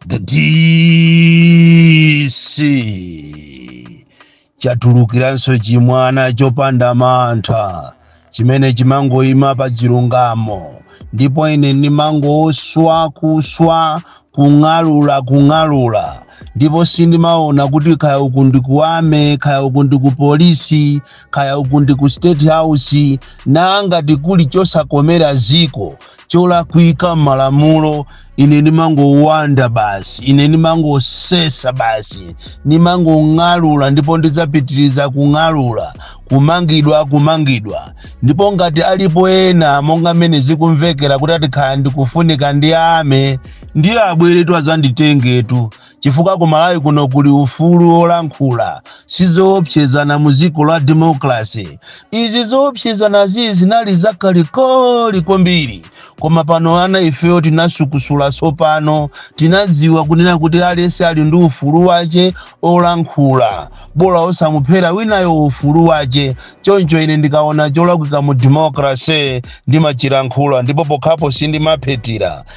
the dc chatulukiranso chimwana chopanda mantha chimene chimangoyima pa chilungamo ndipo ine ndimangoswa kuswa kung'alula kung'alula ndipo sindimaona kuti kaya uku ndi ku army kaya uku ndi ku polisi kaya uku ndi ku state house nangati kuli chosakomera dziko cholakwika malamulo ine ndimangowanda basi ine ndimangosesa basi ndimangong'alula ndipo ndidzapitiriza kung'alula kumangidwa kumangidwa ndipo ngati alipo ena monga mmene zikumvekera kuti ati nkhala ndikufunika ndi army ndiye abweretu azanditengetu chifukwa ku malawi kuno kuli ufulu wolankhula sizoopsezana mu dziko la democracy izi zoopsezana zi zinali zakalikoli kwambiri koma pano ana ifeyo tinasukusula tsopano tinadziwa kunena kuti aliyense ali ndi ufulu wake olankhula bola osamuphera winayo ufulu wake choncho ine ndikaona cholakwika mu democracy ndimachilankhula ndipo pokhapo sindimaphetira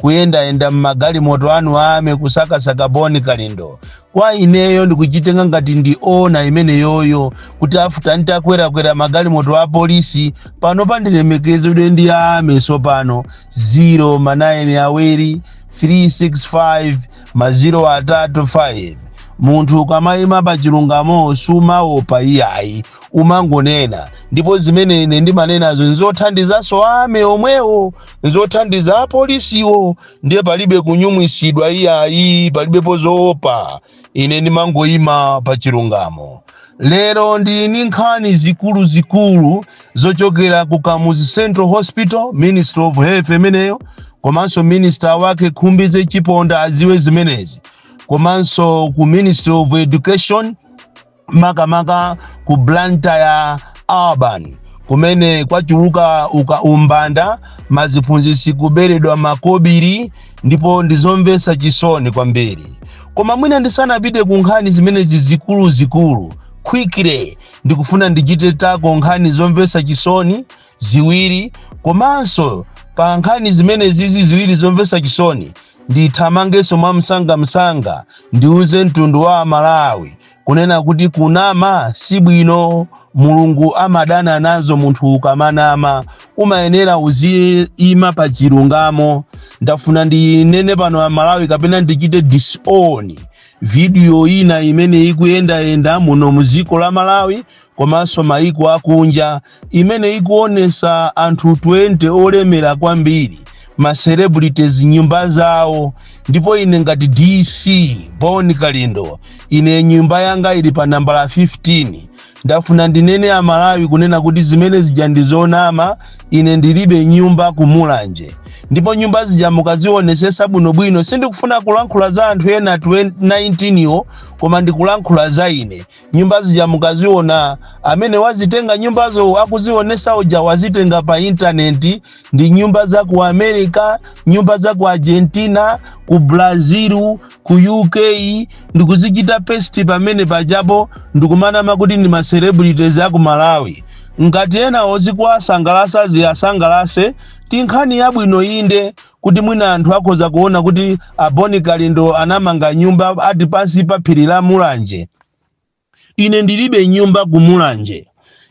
kuyendayenda m'magalimoto anu a army kusakasaka bon kalindo kwa ineyo ndikuchitenga ngati ndi honour imeneyoyo kuti after nditakwerakwera magalimoto a polisi pano pandilemekezedwe ndi a army tsopano 0 ma 9 awiri 365 ma 0 atatu 5 munthu ukamayima pa chilungamo sumaopa iyayi umangonena ndipo zimene ine ndimanenazo nzothandizanso a army omwewo nzothandiza apolisiwo ndiye palibe kunyumwisidwa iyayi palibepo zoopa ine ndimangoyima pa chilungamo lero ndili ndi nkhani zikuluzikulu zochokera ku kamuzu central hospital ministry of health imeneyo komanso minister wake khumbize chiponda adziwe zimenezi komanso ku ministry of education makamaka ku blantyre urban kumene kwachuluka umbanda maziphunzitsi kuberedwa makobiri ndipo ndizomvetsa chisoni kwambiri koma mwina ndisanapite ku nkhani zimenezi zikuluzikulu quickly ndikufuna ndichite tackle nkhani zomvetsa chisoni ziwiri komanso pa nkhani zimenezizi ziwiri zomvetsa chisoni ndithamangenso mwamsangamsanga ndiuze mtundu wa amalawi kunena kuti kunama si bwino mulungu amadana nazo munthu ukamanama umayenera uziyima pa chilungamo ndafuna ndinene pano amalawi kapena ndichite disown vidiyo ina imene ikuyendayenda muno mu dziko la malawi komanso maiko akunja imene ikuonesa anthu 20 olemera kwambiri ma celebrities nyumba zawo ndipo ine ngati dc bon kalindo ine nyumba yanga ili pa nambala 15 ndafuna ndinene amalawi kunena kuti zimene zija ndizonama ine ndilibe nyumba kumulanje ndipo nyumba zija mukazionesesa bwinobwino sindikufuna kulankhula za anthu ena 19 wo koma ndikulankhula za ine nyumba zija mukaziona amene wazitenga nyumbazo akuzionesa uja wazitenga pa intaneti ndi nyumba za ku america nyumba za ku argentina ku brazil ku uk ndikuzichita pesti pamene pajapo ndikumanama kuti ndi macelebrities aku malawi ngati enawo zikuwasangalasa ziwasangalase ndi nkhani yabwino inde kuti mwina anthu akhoza kuona kuti a Boni Kalindo anamanga nyumba ati pansi pa phiri la Mulanje. Ine ndilibe nyumba ku Mulanje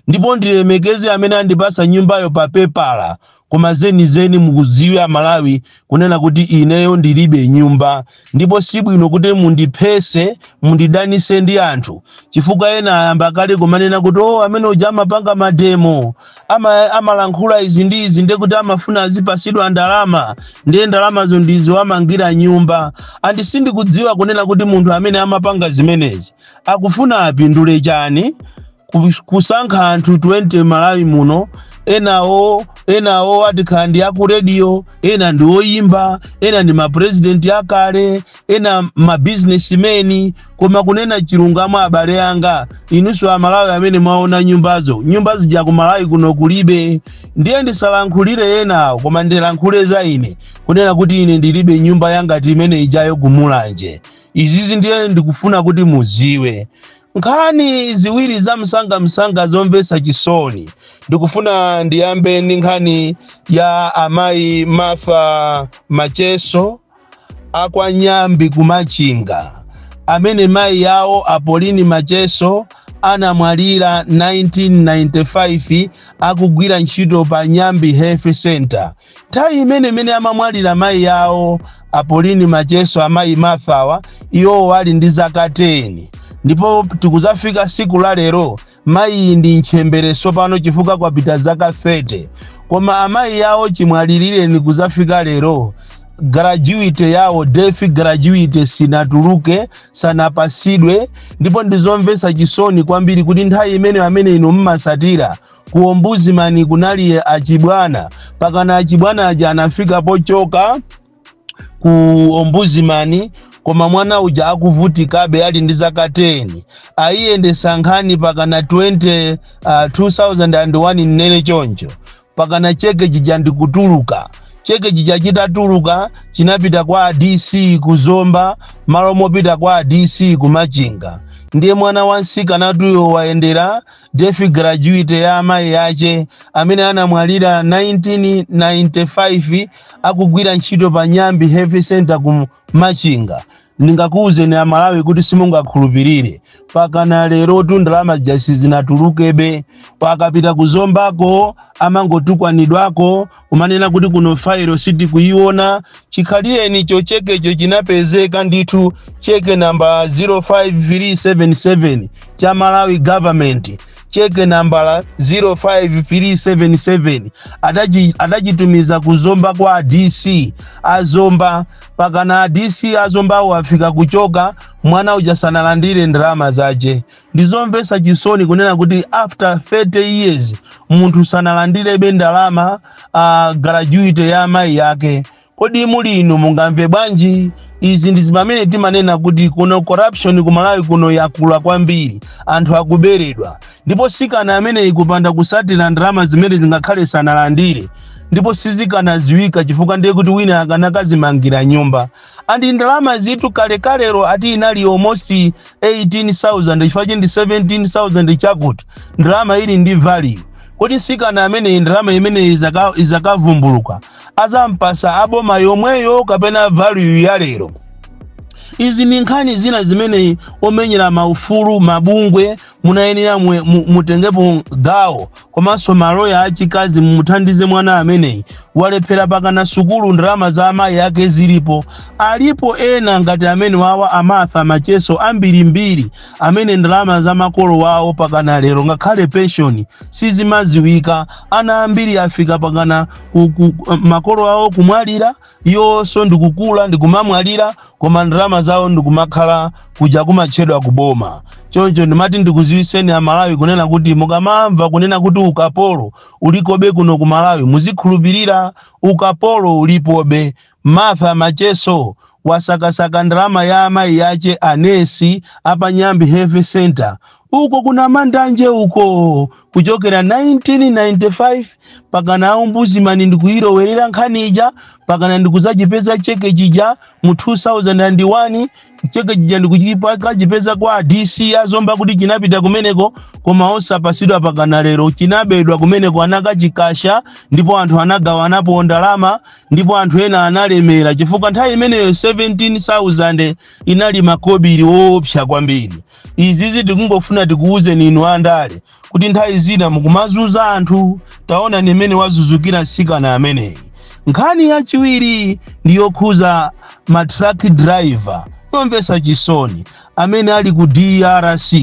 ndipo ndilemekeze amene andipasa nyumbayo pa pepala koma zenizeni mudziwe a Malawi kunena kuti ineyo ndilibe nyumba Ndipo si bwino kuti mundiphese, mundidanise ndi anthu, chifukwa ena ayamba kale kumanena kuti oh, amene uja amapanga mademo, ama, amalankhula izi ndi izi, ndiye kuti amafuna azipasidwa ndalama, ndiye ndalamazo ndizo amangira nyumba. And sindikudziwa kunena kuti munthu amene amapanga zimenezi akufuna apindule chani Ku- kusankha anthu 20 mmalawi muno enawo enawo ati kaya ndi aku radio ena ndi oyimba ena ndi mapurezidenti akale ena mabizinesimeni koma kunena chilungamo abale anga inunso amalawi amene mwaona nyumbazo nyumba zija ku malawi kuno kulibe ndiye ndisalankhulire enawo koma ndilankhule za ine kunena kuti ine ndilibe nyumba yangati imene ijayo kumulanje izi izi ndiye ndikufuna kuti muziwe nkhani ziwiri za msangamsanga zomvetsa chisoni ndikufuna ndiyambe ndi nkhani ya amayi martha macheso akwa nyambi kumachinga amene mayi yawo a pauline macheso anamwalira 1995 akugwira ntchito pa nyambi health center nthawi imene imene amamwalira mayi yawo a pauline macheso amayi martha wa iwowo ali ndi zaka 10 ndipo tikuzafika siku la lero mayiyi ndi ntchemberenso pano chifukwa kwapita zaka 30 koma amayi yawo chimwalilireni kuzafika lero gratuity yawo death gratuity sinatuluke sanapasidwe ndipo ndizomvesa chisoni kwambiri kuti nthawi imene amene inu mmasatira ku ombudsman kunali achibwana pakana achibwana aja anafika pochoka ku ombudsman koma mwana uja akuvutikabe ali ndi zaka 10 ayiyendesa nkhani pakana 20 uh, 2001 nnene choncho pakana cheke chija ndikutuluka cheke chija chitatuluka chinapita kwa dc ku zomba malo mopita kwa dc ku machinga ndiye mwana wa msikanatuyo wayendera death gratuity ya amayi ache amene anamwalira 1995 akugwira ntchito pa nyambi health center ku machinga ndingakuwuzeni amalawi kuti simungakhulupirire pakana lerotu ndalamaja sizinatulukebe akapita kuzombako amangotukwanidwako kumanena kuti kuno fayilo sitikuyiona chikhalireni cho chekecho chinapezeka ndithu cheke nambala 05377 cha malawi government cheke nambala 05377 adachi- adachitumiza ku zomba kwa adc azomba pakana adc azombawo afika kuchoka mwana uja sanalandire ndalama zache ndizomvetsa chisoni kunena kuti after 30 years munthu sanalandirebe ndalama uh, gratuity ya amayi yake kodi muli inu mungamve bwanji izi ndi zimene timanena kuti kuno corruption ku malawi kuno yakula kwambiri anthu akuberedwa ndipo msikana ameneyi kupanda kutsatira ndalama zimene zingakhale sanalandire ndipo sizikanadziwika chifukwa ndiye kuti wina akanakazimangira nyumba and ndalamazitu kalekalero ati inali almost 18000 chifukwa ndi 17000 chakuti ndalama ili ndi value kodi msikana ameneyi ndalama imeneyi izaka- izakavumbuluka azampasa aboma yomweyo kapena value ya lero izi ni nkhani zina zimene omenyera maufulu mabungwe munayenera mwe- mu- mutengepo gawo komanso maloya achikazi mumuthandize mwana ameneyi walephera pakana sukulu ndalama za amayi ake zilipo alipo ena ngati amenewawa a martha macheso ambirimbiri amene ndalama za makolo wawo pakana lero ngakhale penshoni sizimaziwika ana ambiri afika pakana ku, ku, makolo awo kumwalira iwonso ndikukula ndikumamwalira koma ndalama zawo ndikumakhala kuja kumatchedwa kuboma choncho ndimati ndikuziwiseni amalawi kunena kuti mukamamva kunena kuti ukapolo ulikobe kuno ku malawi muzikhulupirira ukapolo ulipobe martha macheso wasakasaka ndalama ya amayi yache anesi apa nyambi health center uko kuna mandanje uko kuchokera 1995 pakana a Ombudsman ndikuilowerera nkhani ija pakana ndikudzachipeza cheke chija mu 2001 cheke chija ndikuchipeza kwa dc a zomba kuti chinapita kumeneko koma osapatsidwa pakana lero chinabedwa kumeneko anakachikasha ndipo anthu anagawanapo ndalama ndipo anthu ena analemera chifukwa nthawi imeneyo 17000 inali makobiri woopsa kwambiri iziizi tikungofuna tikuwuzeni inu andale kuti nthawi zina mukumazunza anthu taonani mmene wazunzikira mtsikana ameneyi nkhani yachiwiri ndi yokhudza ma truck driver yomvetsa chisoni amene ali ku drc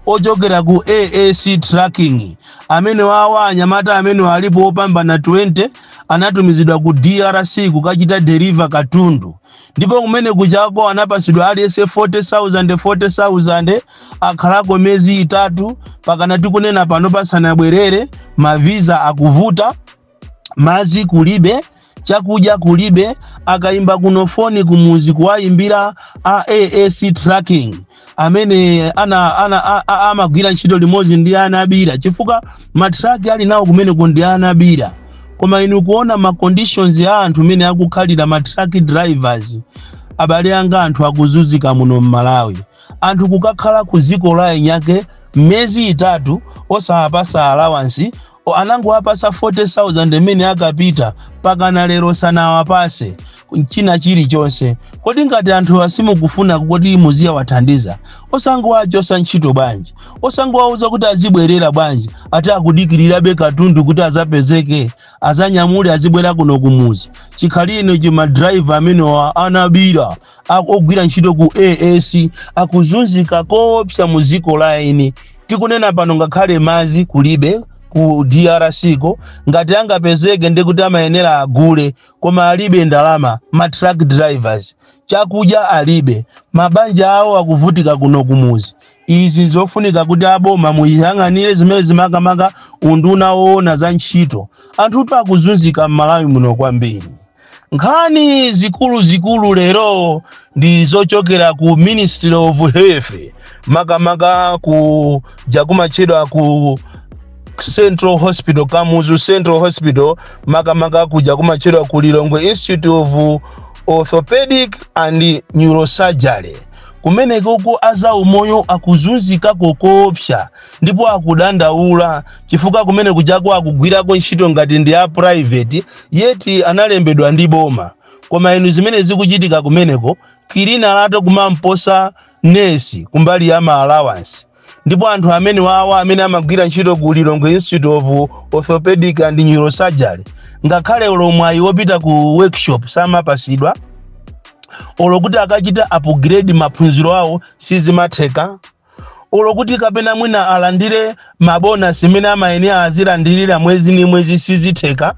ochokera ku aac trucking amene awawa anyamata amenewa alipo opambana 20 anatumizidwa ku drc kukachita deliver katundu ndipo kumenekujako anapatsidwa aliyense 40,000 40,000 akhalako miyezi itatu pakana tikunena pano sanabwerere maviza akuvuta madzi kulibe chakudya kulibe akayimba kuno foni kumuzi kuwayimbira aac trucking amene ana, ana a- a- amagwira ntchito limodzi ndi a nabira chifukwa matraki ali nawo kumeneko ndi a nabira koma inu kuona ma conditions a anthu mmene akukhalira ma truck drivers abale anga anthu akuzunzika muno mmalawi anthu kukakhala ku dziko la eni ake miyezi itatu osawapatsa alawansi O, anangowapatsa 40,000 mmene anapita pakana lero sanawapatse china chilichonse kodi ngati anthu simukufuna kuti muziwathandiza osangowachotsa ntchito bwanji osangowauza kuti azibwerera bwanji ati akudikirirabe katundu kuti adzapezeke adzanyamule azibwera kuno kumuzi chikhalirenicho madrayiva amenewa a nabira a ogwira ntchito ku AAC akuzunzika koopsa mu dziko la eni. Tikunena pano ngakhale madzi kulibe ku DRC ko ngati angapezeke ndi kuti amayenera agule koma alibe ndalama ma truck drivers chakudya alibe mabanja awo akuvutika kuno kumuzi izi ndi zofunika kuti aboma muyang'anire zimenezi makamaka unduna woona za ntchito anthutu akuzunzika m'malawi muno kwambiri nkhani zikuluzikulu lero ndi zochokera ku ministry of health makamaka kuja kumatchedwa ku central hospital kamuzu central hospital makamaka kuja kumatchedwa ku lilongwe institute of orthopedic and neurosurgery kumenekoko a zaumoyo akuzunzika koopsa ndipo akudandaula chifukwa kumene kujaku akugwirako ntchito ngati ndi a private yeti analembedwa ndi boma koma inu zimene zikuchitika kumeneko kilinala kumamposa nesi kumbali ya ma allowance ndipo anthu amene wawa amene amagwira ntchito ku lilongwe institute of orthopedic and neurosurgery ngakhale olo mwayi wopita ku workshop samapasidwa olo kuti akachita upgrade maphunziro awo sizimatheka olo kuti kapena mwina alandire mabonasi imene amayenera azilandirira mwezi ni mwezi sizitheka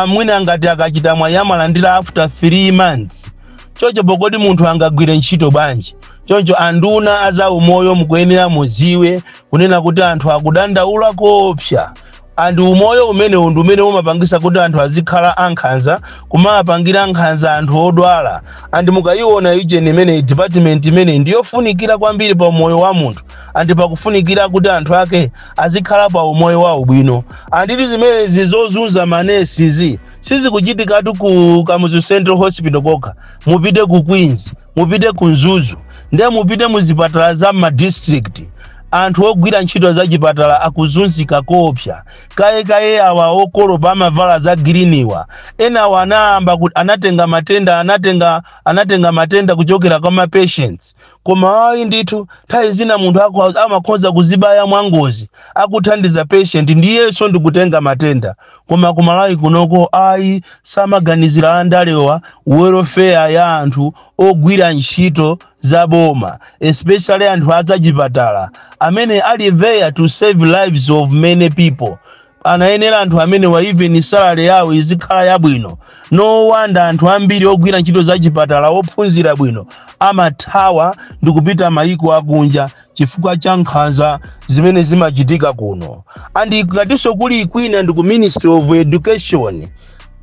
mwina ngati akachita mwayi amalandira after 3 months choncho pokoti munthu angagwire ntchito bwanji choncho anduna azaumoyo mukuyenera muziwe kunena kuti anthu akudandaula koopsa and umoyo umenewu ndi umene umapangisa kuti anthu azikhala ankhanza kumawapangira nkhanza anthu odwala and mukayiona ujeni imeneyi department imeneyi ndi yofunikira kwambiri pa umoyo wa munthu and pakufunikira kuti anthu ake azikhala pa umoyo wabwino and zimenezi zozunza manesizi sizikuchitikatu ku kamuzu central hospital kokha mupite ku queens mupite ku mzuzu ndiye mupite mu zipatala za ma district anthu ogwira ntchito za chipatala akuzunzika koopsa kaye kaye awa okolopa amavala za giriniwa enawa anayamba kuti anatenga matenda anatenga anatenga matenda kuchokera kwa ma patients koma ayi ndithu nthawi zina munthu akho- amakhoza kuzibaya mwangozi akuthandiza patient ndiyeso ndikutenga matenda koma ku malawi kunoko ayi samaganizira andalewa welfare ya anthu ogwira ntchito za boma especially anthu azachipatala amene ali there to save lives of many people anayenera anthu amene wa even salary yawo izikhala yabwino no wonder anthu ambiri ogwira ntchito zachipatala ophunzira bwino amathawa ndikupita mayiko akunja chifukwa cha nkhanza zimene zimachitika kuno and ngatinso kuli kwina ndi ku ministry of education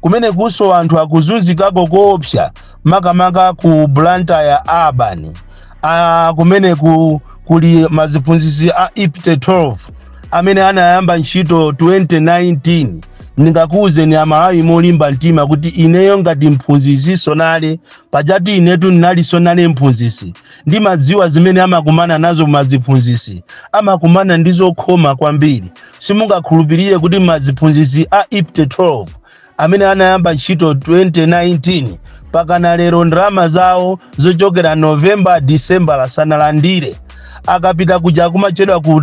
kumene kunso anthu akuzunzikako koopsa makamaka ku blantyre urban ah, kumene ku, kuli maziphunzitsi a ipte 12 amene anayamba ntchito 2019 ndingakuwuzeni amalawi molimba mtima kuti ineyo ngati mphunzitsi nsonale pajatu inetu ndinali nsonale mphunzitsi ndimadziwa zimene amakumana nazo maziphunzitsi amakumana ndi zokhoma kwambiri simungakhulupirire kuti maziphunzitsi a ipte 12 amene anayamba ntchito 2019 pakana lero ndalama zawo zochokera novemba disembala sanalandire akapita kuja kumachedwa ku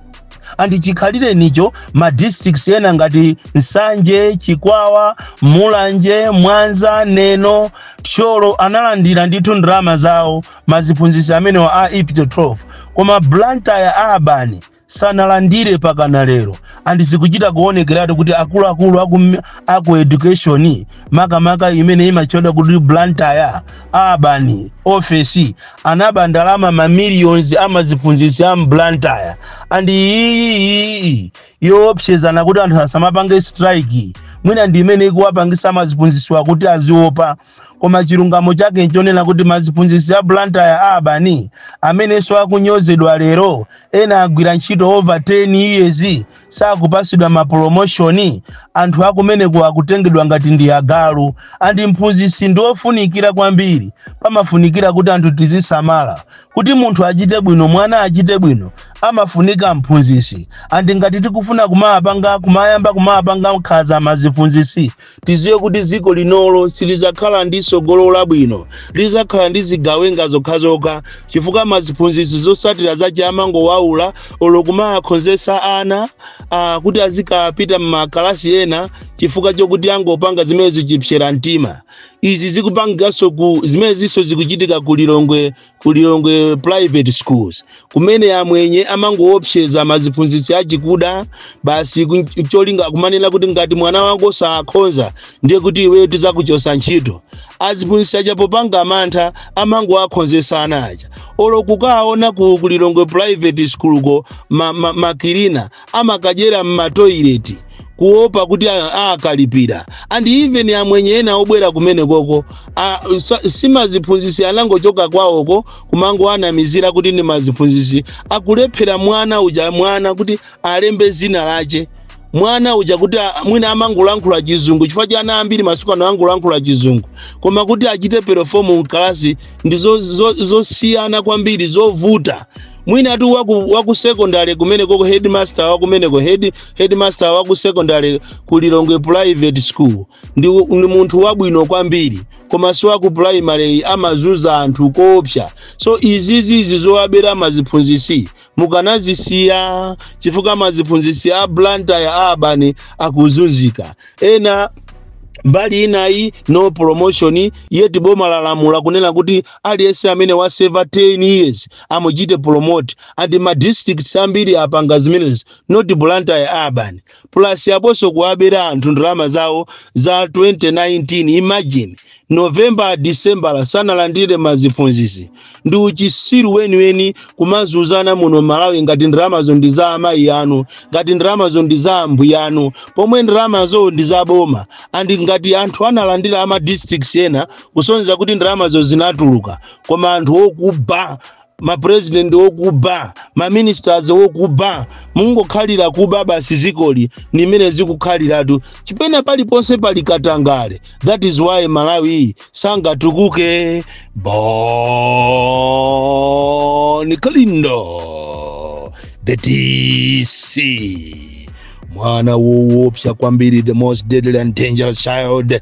andi chikhalirecho nicho ma districts ena ngati nsanje chikwawa mulanje mwanza neno thyolo analandira ndithu ndalama zawo maziphunzitsi amenewa a ipte 12 koma blantyre urban sanalandire pakana lero andi zikuchita kuonekeratu kuti akuluakulu aku, aku education makamaka imene imatchedwa kuti blantyre urban ofesi anaba ndalama ma millions amaziphunzitsi a mblantyre and iyiyiyi yoopsezana kuti anthu asamapange strike mwina ndi imene ikuwapangisa amaziphunzisiwa kuti aziopa koma chilungamo chake nchonena kuti maziphunzisi a blantyre urban amenenso akunyozedwa lero ena agwira ntchito over 10 years sakupasidwa ma promotion anthu akumene ku akutengedwa ngati ndi agalu and mphunzitsi ndi ofunikira kwambiri pamafunikira kuti anthu tizisamala kuti munthu achite bwino mwana achite bwino amafunika mphunzitsi and ngati tikufuna kumapanga kumayamba kumapanga nkhaza maziphunzitsi Tidziwe kuti dziko linolo silidzakhala ndi tsogolo labwino, lidzakhala ndi zigawenga zokhazokha chifukwa ma ziphunzitsi zotsatira zachi amangowaula olo kumawakhonzetsa ana ah, kuti azikapita m'makalasi ena chifukwa chokuti angopanga zimene zichipsera mtima. Izi zikupangikaso ku zimenezinso zikuchitika ku Lilongwe ku lilongwe private schools kumene amwenye amangoopseza maziphunzitsi achikuda basi ku- cholinga kumanena kuti ngati mwana wako sakhonza ndiye kuti iwe tizakuchosa ntchito aziphunzitsi aja popanga mantha amangowakhonzesa ana aja olo kukaona ku ku lilongwe private school ko makilina ma, ma makilina amakadyera m'matoilet kuopa kuti a- akalipira and even amwenye ena obwera kumene koko a- sa- simaziphunzisi anangochoka kwawoko kumangoanamizira kuti ndi maziphunzisi akulephera mwana uja mwana kuti alembe zina lache mwana uja kuti a- mwina amangolankhula chizungu chifukwa cha ana ambiri masiku ano angolankhula chizungu koma kuti achite perform mkalasi ndi zo- zo- zosiyana kwambiri zovuta mwinatu waku, waku secondary kumeneko ku headmaster wakumeneko head, headmaster waku secondary ku lilongwe private school ndi, ndi munthu wabwino kwambiri koma si waku primary amazuza anthu koopsa so izizi izi zowabera maziphunzisi mukanazisiya chifukwa maziphunzisi a blantyre urban akuzunzika ena mbali inayi no promotion yeti boma lalamula kunena kuti aliyense amene waseva 10 years amuchite promote and ma districts ambiri apanga zimenezi not blantyre urban plus yaponso kuwabera anthu ndalama zawo za 2019 imagine november december sanalandire maziphunzitsi ndi uchisiru weniweni kumazuzana muno mmalawi ngati ndalamazo ndi za amayi anu ngati ndalamazo ndi za ambuya anu pomwe ndalamazo ndi za boma and ngati anthu analandira ama districts ena kusonyeza kuti ndalamazo zinatuluka koma anthu okuba mapresident okuba maministers okuba mungokhalira kuba basi zikoli ndi mmene zikukhaliratu chipena paliponse pali katangale that is why malawi sangatukuke bon kalindo the dc mwana woopsa kwambiri the most deadly and dangerous child